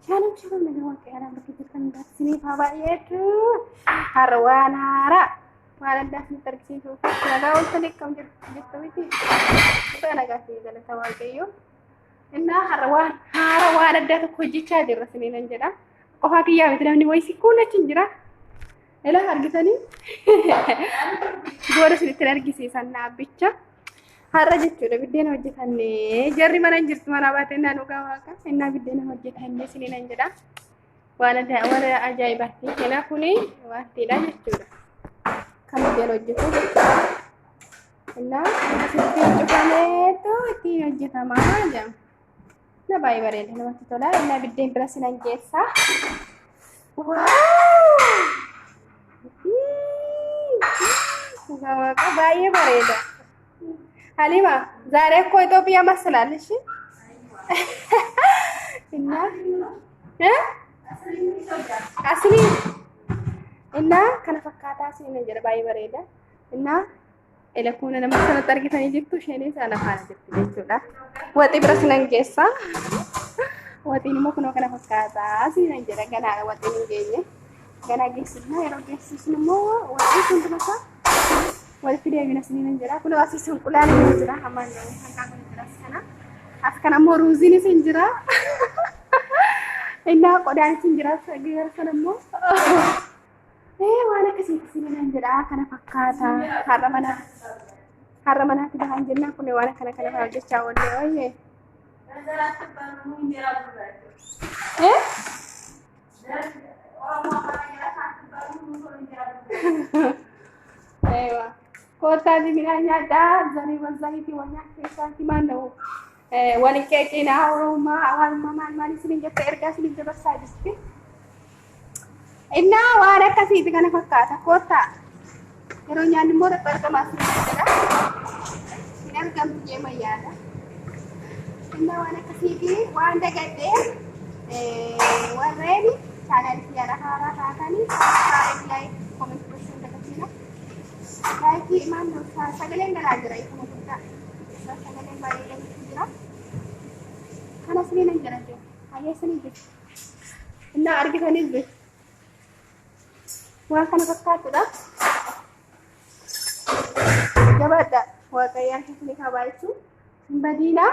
Shaalam shaalam nagaa waaqayyaa lafa keessatti kan darsiniif haa baay'eetu. Har'a waan haaraa waan addaa isinitti argisiisuuf nagaa ooltan akkam jirtu jettu miti. Nagaa nagaa fi galata waaqayyoo. Innaa har'a waan haaraa waan addaa tokko hojjechaa jirra isiniin jedha. Qofaa kiyyaa miti namni wayii si kuulachi hin jira. Ilaa argitanii booda isinitti argisiisan naabbicha. Har'a jechuudha biddeen hojjetanne jarri mana hin jirtu mana baatee naan dhugaa waaqa innaa biddeen hojjetanne isiniin hin jedha. Waan adda waan ajaa'ibaatti kena kuni waantiidha jechuudha. Kan biddeen hojjetu jechuudha. Innaa asitti cufameetu ittiin hojjetama jedhama. Na baay'ee bareeda namatti tola. Innaa biddeen bira sinan geessa. Dhugaa waaqa baay'ee bareeda. Halima zaaree koo Itoophiyaa masalaal ishi. Innaa. Eh? Asliin. Innaa kana fakkaataa siin jedha baay'ee bareeda. Innaa Elekoona nama sanatti argitanii jirtu isheen isaa lafaan jirti jechuudha. Waxii bira sinan geessa. Waxiin immoo kunoo kana fakkaataa sinan jedha ganaadha waxiin hin geenye. Ganaa geessifna yeroo geessisnu immoo waxii hunduma isaa walitti deebina sinan jedha. Kunoo asiis hinqulaan hin jira hammaan hanqaa kun jira sana. As kana immoo ruuziinis hin jira. Innaa qodaanis hin jira gara sana immoo. Ee waan akkasiitti sibiilaan jedha kana fakkaata har'a mana har'a manaatti bahan jennaan kun waan akkana kana fa'aa hojjechaa oollee ooyyee. Ee? Eewa. Koottaa sibiilaan nyaadhaa zariiwwan zayitii wal nyaata keessaa himaan dha'u. Wani keekii naa horumaa awaaluma maal maal isiniin jette ergaa isiniin dabarsaa jirti. Innaa waan akkasiiti kana fakkaata koottaa. Yeroo nyaanni immoo irratti argamaa isiniin jedha. Hin argamtu jee mayyaadha. Innaa waan akkasiiti waan dagadhee warreen chaanaalii kiyyaara haaraa taatanii chaanaalii laayikii komentii gochuun dagatiina. Laayikii imaan sagaleen galaa jira. Sagaleen baay'ee galuutu jira. Kana sinii nan jedhan jiru. Hayyee sinii jiru. Innaa argitaniif beeku. Waan kana fakkaatudha. Jabaadha. Waaqayyaan keessaniif haa baay'isuu. Hin badiinaa.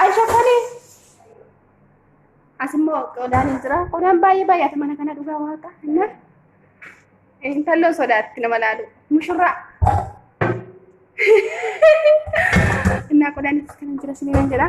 Aisha kuni asimmoo qodaan hin jira. Qodaan baay'ee baay'ata mana kana dhugaa waaqa. Inna intalloo sodaatti nama laalu. Mushurraa. Innaa qodaan itti kan hin jira siniin jedha.